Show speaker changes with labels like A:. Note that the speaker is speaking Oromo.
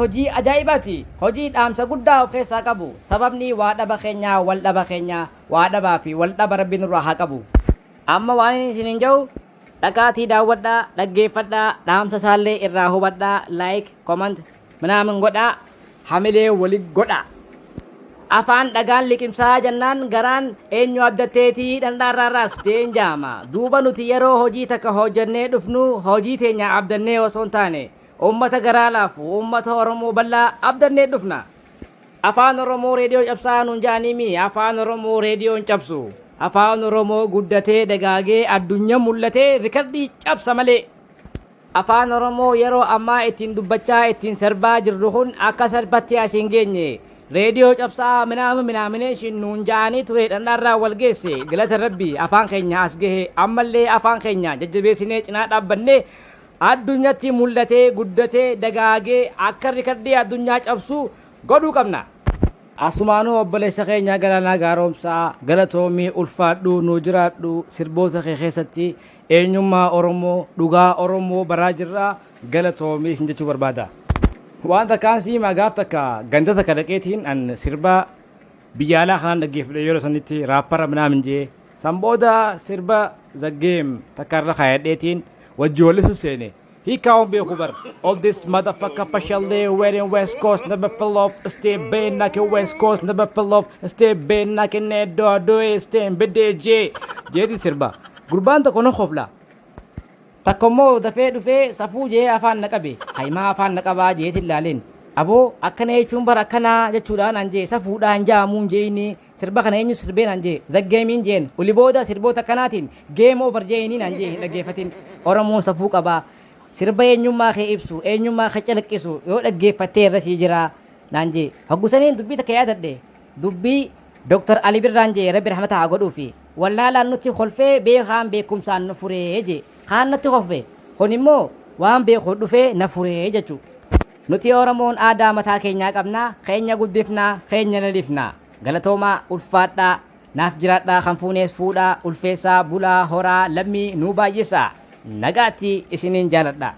A: hojii ajaa'ibaati hojii dhaamsa guddaa of keessaa qabu sababni waa dhaba keenya wal dhaba keenya waa dhabaa fi wal dhaba rabbi nurraa haa qabu amma waan isiniin jedhu Dhaqaatii daawwadhaa, dhaggeeffadhaa, dhaamsa isaallee irraa hubadhaa, like, comment, minaamin godhaa, hamilee wali godhaa. Afaan dhagaan liqimsaa jannaan garaan eenyu abdatteetii dhandhaarraa raasteen jaama. Duuba nuti yeroo hojii takka hojjannee dhufnu hojii teenya abdannee osoo hin taane uummata garaa laafu, uummata Oromoo bal'aa abdannee dhufna. Afaan oromoo reediyoon cabsaa nuun ja'anii mii afaan oromoo reediyoon cabsu afaan oromoo guddatee dagaagee addunyan mul'atee rikardii cabsa malee. Afaan oromoo yeroo ammaa ittiin dubbachaa ittiin serbaa jirru kun akka serbatti as hin geenye reediyoo cabsaa minaama minaamineeshin nuun ja'anii ture dhandhaarraa wal geesse galata rabbii afaan keenya as gahe ammallee afaan keenya jajjabeessinee cinaa dhaabbannee Addunyatti mul'atee, guddatee, dagaagee akka rikardii addunyaa cabsu godhuu qabna. Asumaanuu obboleessa keenya Galaanaa Gaaromsaa galatoomi ulfaadhu nuu jiraadhu sirboota kee keessatti eenyummaa Oromoo dhugaa Oromoo baraa jirra galatoomi sin jechuu barbaada. Waan takkaan si himaa gaaf takka ganda takka dhaqeetiin an sirbaa biyya alaa kanaan dhaggeeffadhe yeroo sanitti raappara minaamin jee San booda sirba The Game takka irra kaayadheetiin wajji wallisu seene. He can't be kubar. All this motherfucker partially wearing West Coast never fell off. Stay been knocking West Coast never fell off. Stay been knocking that door do it stay BDJ. Jeeti sirba. Gurbaan tokko na kofla. Takka immoo dafee dhufee safuu jee afaan na qabe. Hayimaa afaan na qabaa jeetiin laaleen. Aboo akkana jechuun bara akkanaa jechuudhaan an jee safuudhaan jaamuun jeeni Sirba kana eenyu sirbee naan jee? The game hin jeen. Oli booda sirboota akkanaatiin game over jee'inii naan jee hin dhaggeeffatin. Oromoon safuu qaba. Sirba eenyummaa kee ibsu, eenyummaa kee calaqqisu yoo dhaggeeffattee irra sii jira naan jee. Hoggu saniin dubbii takka yaadadhe. Dubbii Dr. Ali Birraan jee Rabbi rahmata haa godhuufi. Wallaalaan nutti kolfee beekaan beekumsaan nu furee jee. Kaan natti kolfe. Kun immoo waan beekuun dhufee na furee jechuu. Nuti Oromoon aadaa mataa keenyaa qabna, keenya guddifna, keenya leelifna. Galatoomaa, ulfaadhaa, naaf jiraadhaa kan fuunees fuudhaa, ulfeessaa, bulaa, horaa, lammii nuu baay'isaa. Nagaatti isiniin jaaladha.